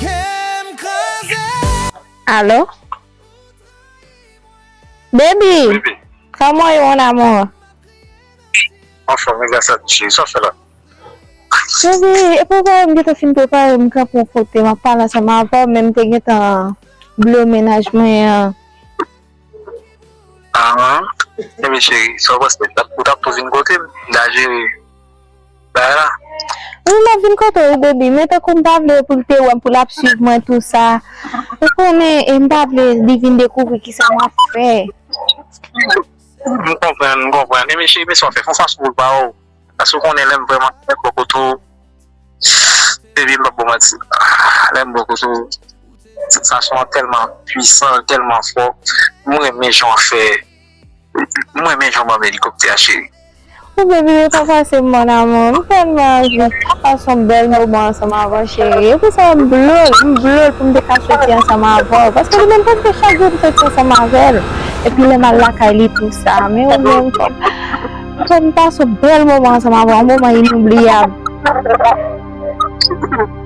Kem kraze. Allo baby Comment est mon amour? Anfom wi gras a Dieu cheri, sa wap fè la? Baby epa ou pa wè m gentan fin prepare m kanpe yon kote map pale ansanm avèw men m te gentan bliye mennaj mwen an. Ahh ebyen cheri sa ou panse ou tap tou vin kote m m ta jere. Wi map vin kote ou baby men tankou m pa vle pou l te wè m pou lap swiv mwen tou sa ou konnen e m pa vle li vin dekouvri kisa map fè. M konprann m konprann enben cheri men sa w fè fon fason pou l pa wè w paske ou konnen lè m vrèman lèm bò kote w baby m pap bò w manti lèm bò kote w sansasyon an tèlman pwisan l tèlman fò m renmen jan w fè. M renmen jan w banm elikoptè a cheri. Ou byen vire pa pase mon amour m telman anvi pase yon bel moman ansanm avèw chérie e pou sa m vle w m vle w poum te ka soti ansanm avèw paske li menm pap gen chak jou m soti ansanm avèl epi lèm al lakay li tou sa men ou menm fòm pase yon bel moman ansanm avèw yon moman inoubliable.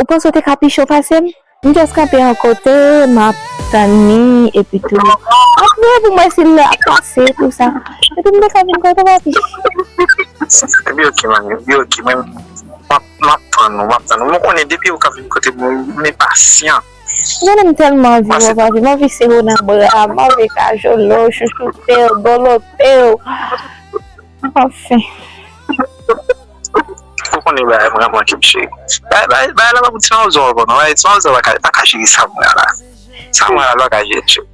Ou panse ou te ka pi cho pase m? M just kanpe yon kote m ap tann li epi tou m ap veye pou m wè si l ap pase tou sa. Epi m te ka vin kote w a pi cho. Epi ok man, epi ok mwen m ap m ap tann ou, m ap tann ou. M konnen depi ou ka vin kote m m enpasyan. Ou konnen m tèlman anvi wè w papi, m anvi sere w nan bra m, m anvi kajole w, chouchoute w, dolote w. Anfen. Ou konnen bagay mwen an manke m cheri. Bagay la pa pou ti mawozo ankò non. Ti mawozo pa ka jere Samra la. Samra la l pa ka jere l cheri.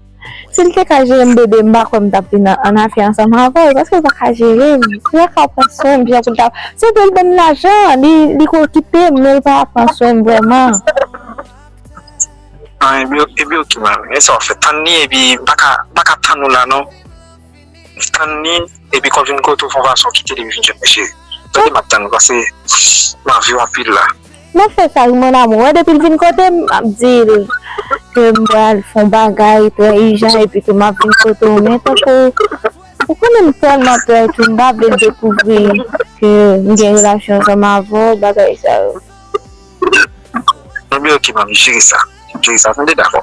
Si l te ka jere m bebe m pa kwè m t ap vin an afè ansanm avè w paske l pa ka jere m. Li pa ka pran swen m jan pou l ta. Se vre l ban m lajan, li ka okipe m men l pa pran swen m vrèman. An epi ok mwen renmen sa w fè. Tann li epi m pa ka tann ou la non. Stanley depi kò vin kote w fon fason kite li vin jwenn mesye tande map tann pase m anviw anpil la. Map fè sa wi mon amour an depil vin kote m map dil ke m pral fon bagay trè ijan epi ke map vin kote w men tankou ou konnen m tèlman pè ke m pa vle l dekouvri ke m gen relasyon ansanm avè w bagay sa yo. Bon byen ok map jere sa jere sa tande dakò.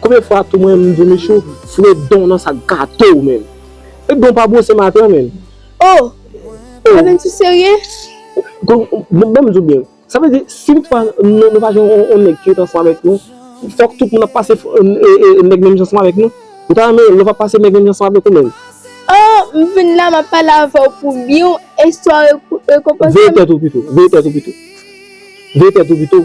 Konbyen fwa tou mwen mdi Michou foure don nan sak gatow menm. E don pa bwose matan menm. Oh! Avèm sou serye? Banm diw byen. Sa vle di si tout fwa nou pa jwenn yon nèg ki ret ansanm avèk nou, fòk tout moun ap pase nèg menm jan ansanm avèk nou? Ou ta renmen lòt pa pase nèg menm jan ansanm avèk ou menm? Oh! M vin la map pale avèw pou byen ou eswa rekonpanse m? Veye tèt ou pito. Veye tèt ou pito. Veye tèt ou pito.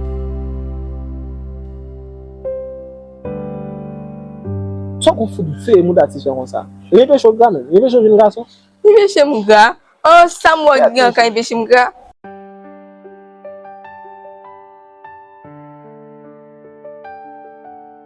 Son group fout veye mouda ti sè konsa. Li enpeche w gra menm. Li enpeche w vin gason. Li enpeche m gra. Oh sa m wè gri an ka enpeche m gra.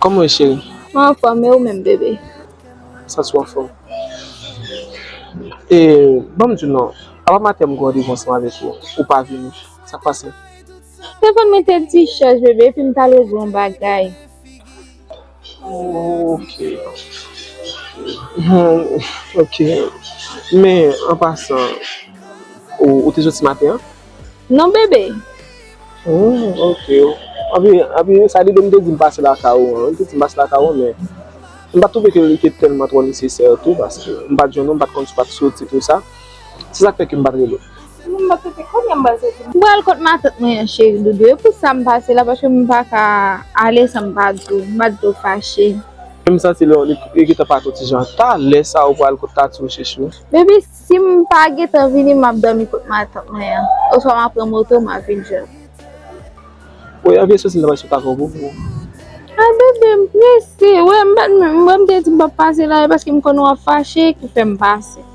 Kòman ou ye cheri? Mwen anfòm e ou menm bebe? Sa sou anfòm? E banm di w non, apa maten m gen randevou ansanm avèk ou, ou pa vini. Sa k pase? Se konn mwen te di chèz bebe epi m t al regle yon bagay. Ok Ok Men an pasan Ou te soti maten an? Non bebe Ok Anpi sa li te di m pase lakay ou an Li te di m pase lakay ou an men M pa t twouve ke li te tèlman twò nesesè tou paske m pa t jwenn ou, m pa t konn si w pa t soti tout sa Se sak fè kem pat rele w. Sinon m pat rete kounye a m pral soti. M pral kot matant mwen an cheri doudou e pou sam pase la paske m paka ale san m pa di w m pa di w fache. Kem santi lè w e gentan pa to ti jan talè sa ou pral kot tati w chechou. Baby sim pa gentan vini map domi kot matant mwen an oswa ma pran moto ma vin jwenn w. Bon yon vye sosi la pral sot avè w boubou. Ay bebe m prese wè m pat menm wè m te di m pap pase la e paske m konn wap fache ki fèm pase.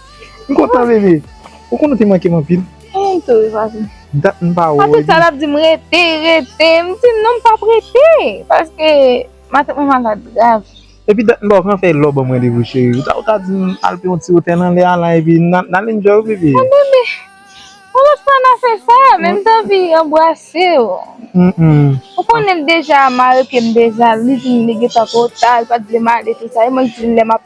M kontan bebe. Ou konn ou te manke m anpil. M menm tou wi papi. Dat m pa wè w. Papi sa l ap di m rete, rete. M di l non m pa p rete. Paske matant mwen malad grav. Epi dat m pa w pran fèy lò ban m randevou cheri. Ou ta ou ta di m al pran yon ti wotè nan lè a la epi n al enjoy wi bebe. Bon bebe. Yon lòt fwa n a fè sa. Men m t anvi anbrase w. Ou konnen l deja mare pye m deja. Li di m li gen tan pou ta. Li pa t vle m ale tout sa. E mwen k di l lè m ap.